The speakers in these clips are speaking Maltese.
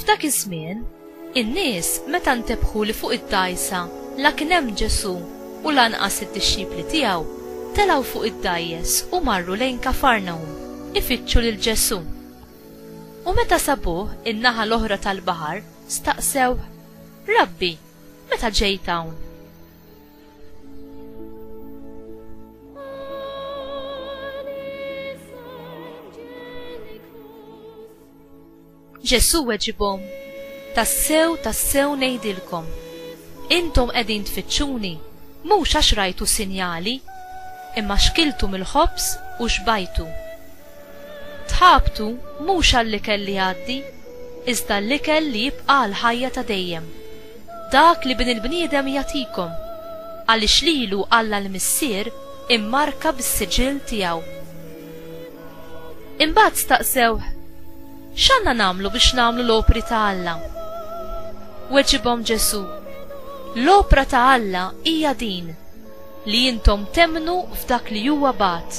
F'dak iż-żmien, in-nies meta ntebħu li fuq id-dgħajsa la kien hemm Ġesù u lanqas id-dixxipli tiegħu, telgħu fuq id-dgħajjes u marru lejn Kafarnahum ifittxu lil Ġesù. U meta sabuh in-naħa l-oħra tal-baħar, staqsewh, Rabbi, meta ġejt hawn? Ġesu weġibhom, tassew tassew ngħidilkom, intom qegħdin tfittxuni mhux għax rajtu sinjali, imma xkiltu mill-ħobż u xbajtu. Tħabtu mhux għall-ikel li jgħaddi, iżda għall-ikel li jibqa' għall-ħajja ta' dejjem, dak li Bin il-bniedem jagħtikom, għaliex lilu Alla l-Missier immarka bis-siġill tiegħu. Imbagħad staqsewh, X'għandna nagħmlu biex nagħmlu l-opri ta' Alla? Weġibhom Ġesù, L-opra ta' Alla hija din, li intom temmnu f'dak li huwa bagħat.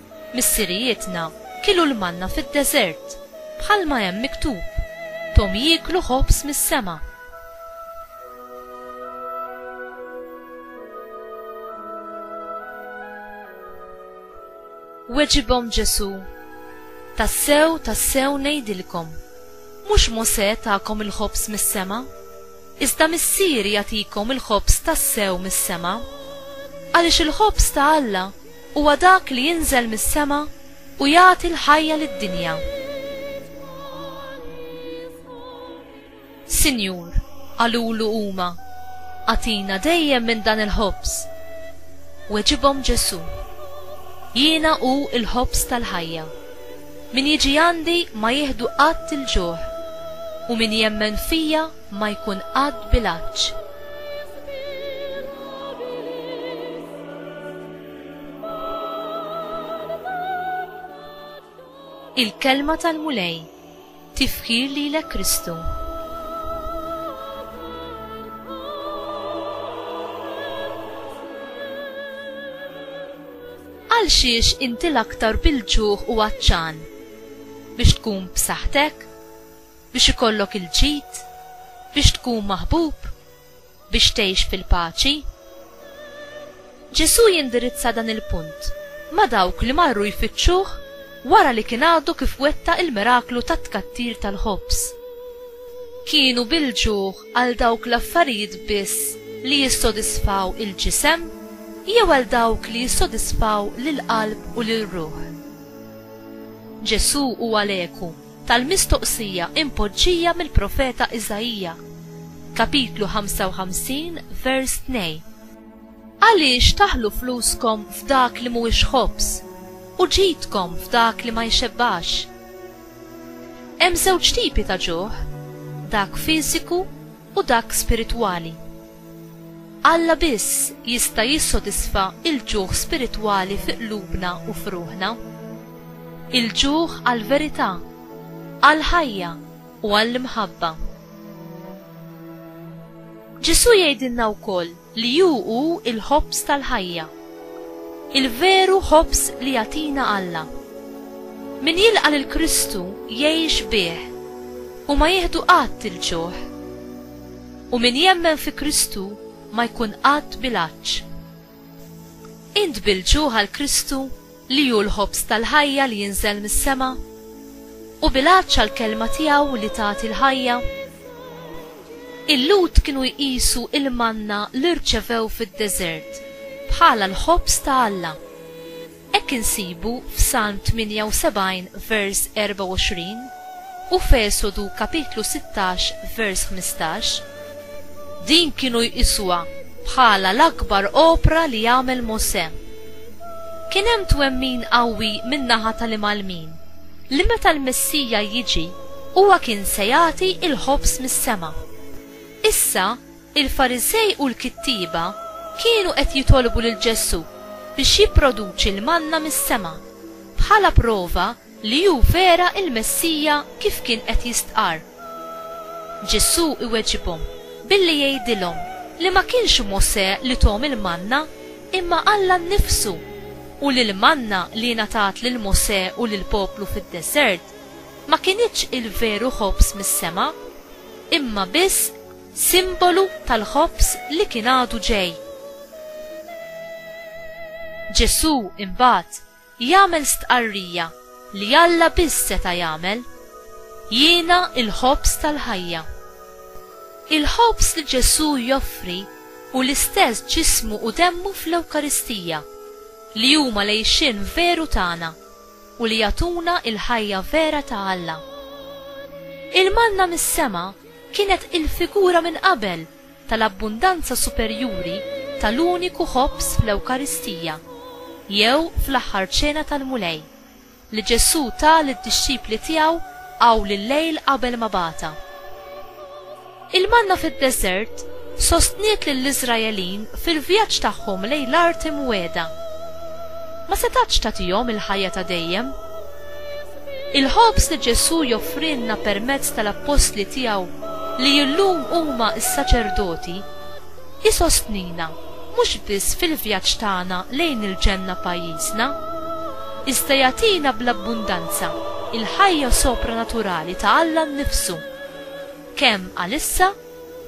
Missirijietna kielu l-manna fid-deżert, bħalma hemm miktub, 'Thom jieklu ħobż mis-sema. Weġibhom Ġesù, Tassew, tassew ngħidilkom, mhux Mosè takom il-ħobż mis-sema, iżda Missieri jagħtikom il-ħobż tassew mis-sema. Għaliex il-ħobż ta' Alla Huwa dak li jinżel mis-sema u jagħti l-ħajja lid-dinja. Sinjur, qalulu huma, agħtina dejjem minn dan il-ħobż. Weġibhom Ġesù, Jiena hu l-ħobż tal-ħajja. Min jiġi għandi ma jieħdu qatt il-ġuħ, u min jemmen fija ma jkun qatt bilanċ. Il-Kelma tal-Mulej, Tifħir lilek Kristu. Għalxiex inti l-aktar bil-ġuħ u għatxan? Biex tkun b'saħħtek? Biex ikollok il-ġid? Biex tkun maħbub? Biex tgħix fil-paċi? Ġesù jindirizza dan il-punt ma' dawk li marru jfittxuh wara li kien għadu kif wettaq il-miraklu tat-tkattir tal-ħobż. Kienu bil-ġuħ għal dawk l-affarijiet biss li jissodisfaw il-ġisem jew għal dawk li jissodisfaw lill-qalb u lir-ruħ? Ġesù huwa l-eku. tal-mistoqsija impoġġija mill-profeta Iżaija, Kapitlu 55, vers 2, Għaliex taħlu fluskom f'dak li mhuwiex ħobż, u ġidkom f'dak li ma jxebbax? Hemm żewġ tipi ta' ġuħ, dak fiżiku u dak spiritwali. Alla biss jista' jissodisfa l-ġuħ spiritwali fi qlubna u f'ruħna. Il-ġuħ għall-verità, għall-ħajja u għall-imħabba. Ġesù jgħidilna wkoll li hu hu l-ħobż tal-ħajja. Il-veru ħobż li jagħtina Alla. Min jilqa' lil Kristu jgħix bih u ma jieħdu qatt il-ġuħ. U min jemmen fi Kristu ma jkun qatt bil-għatx. Int bil-ġuħ għal Kristu li hu l-ħobż tal-ħajja li jinżel mis-sema? U bil-għatx għall-Kelma tiegħu li tagħti l-ħajja? Il-Lhud kienu jqisu l-manna li rċevew fid-deżert bħala l-ħobż ta' Alla. Hekk insibu f'Salm 78 vers 24 u f'Esodu kapitlu 16 vers 15, din kienu jqisuha bħala l-akbar opra li għamel Mosè. Kien hemm twemmin qawwi min-naħa tal-Imgħallmin li meta l-Messija jiġi huwa kien se jagħti l-ħobż mis-sema. Issa, Il-Fariżej u l-kittieba kienu qed jitolbu lil Ġesù biex jipproduċi l-manna mis-sema, bħala prova li hu vera l-Messija kif kien qed jistqarr. Ġesù iweġibhom billi jgħidilhom li ma kienx Mosè li thom il-manna imma Alla nnifsu u li l-manna li ngħatat lil Mosè u lill-poplu fid-deżert ma kinitx il-veru ħobż mis-sema imma biss simbolu tal-ħobż li kien għadu ġej. Ġesù imbagħad jagħmel stqarrija li Alla biss seta' jagħmel, Jiena l-ħobż tal-ħajja. Il-ħobż li Ġesù joffri hu l-istess ġismu u demmu fl-Ewkaristija, li huma l-għixien veru tagħna u li jagħtuna l-ħajja vera ta' Alla. Il-manna mis-sema kienet il-figura minn qabel tal-abbundanza superjuri tal-uniku ħobż fl-Ewkaristija, jew fl-Aħħar Ċena tal-Mulej, li Ġesù ta lid-dixxipli tiegħu awl il-lejl qabel ma bagħatha. Il-manna fid-deżert sostniet lill-Iżraelin fil-vjaġġ tagħhom lejn l-Art Imwiegħda. Ma setgħatx tagħtihom il-ħajja ta' dejjem. Il-ħobż li Ġesù joffrilna permezz tal-appostli tiegħu li illum huma s-saċerdoti, isostnina mhux biss fil-vjaġġ tagħna lejn il-ġenna pajjiżna, iżda jagħtina bl-abbundanza l-ħajja sopranaturali ta' Alla nnifsu, kemm għalissa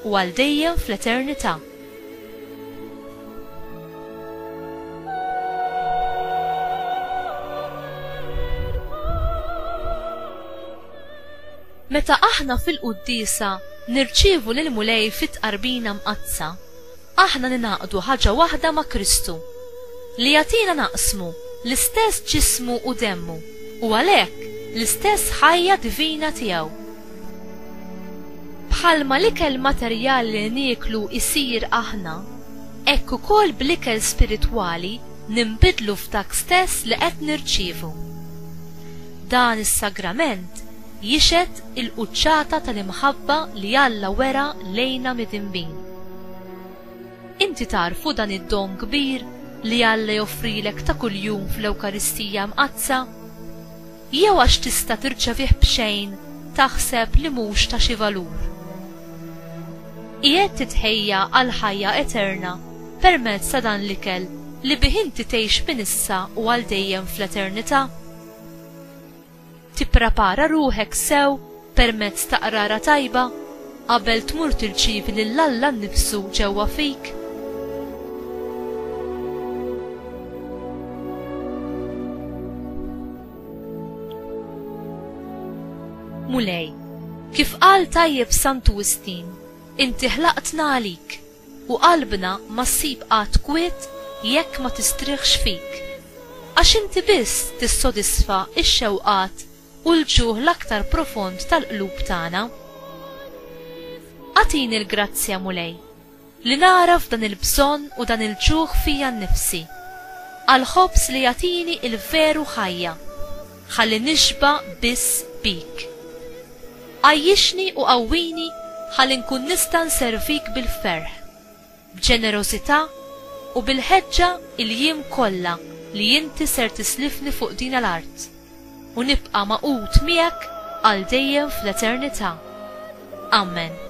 u għal dejjem fl-eternità. Meta aħna fil-Quddiesa nirċievu lill-Mulej fit-Tqarbina Mqaddsa, aħna ningħaqdu ħaġa waħda ma' Kristu, li jagħtina naqsmu l-istess ġismu u demmu, u għalhekk l-istess ħajja divina tiegħu. Bħalma l-ikel materjali li nieklu jsir aħna, hekk ukoll bl-ikel spiritwali ninbidlu f'dak stess li qed nirċievu. Dan is-sagrament jixhed il-quċċata tal-imħabba li Alla wera lejna midinbin. Inti tagħrfu dan id-don kbir li Alla joffrilek ta' kuljum fl-Ewkaristija Mqaddsa? Jew għax tista' tirċevih b'xejn taħseb li mhux ta' xi valur? Qiegħed titħejja għall-ħajja eterna permezz ta' dan l-ikel li bih inti tgħix minn issa u għal dejjem fl-eternità? Tipprepara ruħek sew permezz ta' qrara tajba, qabel tmur tirċievi lil Alla nnifsu ġewwa fik. Mulej, kif qal tajjeb Santu Wistin, inti ħlaqtna għalik u qalbna ma ssib qatt kwiet jekk ma tistrieħx fik. Għax inti biss tissodisfa x-xewqat u l-ġuħ l-aktar profond tal-qlub tagħna. Agħtini l-grazzja, Mulej, li nagħraf dan il-bżonn u dan il-ġuħ fija nnifsi għall-ħobż li jagħtini l-veru ħajja, ħalli nixba' biss bik. Għajjixni u qawwini ħalli nkun nista' nservik bil-ferħ. b'ġenerożità u bil-ħeġġa il-jiem kollha li inti ser tislifni fuq dina l-art, u nibqa' magħqud miegħek għal dejjem fl-eternità. Amen.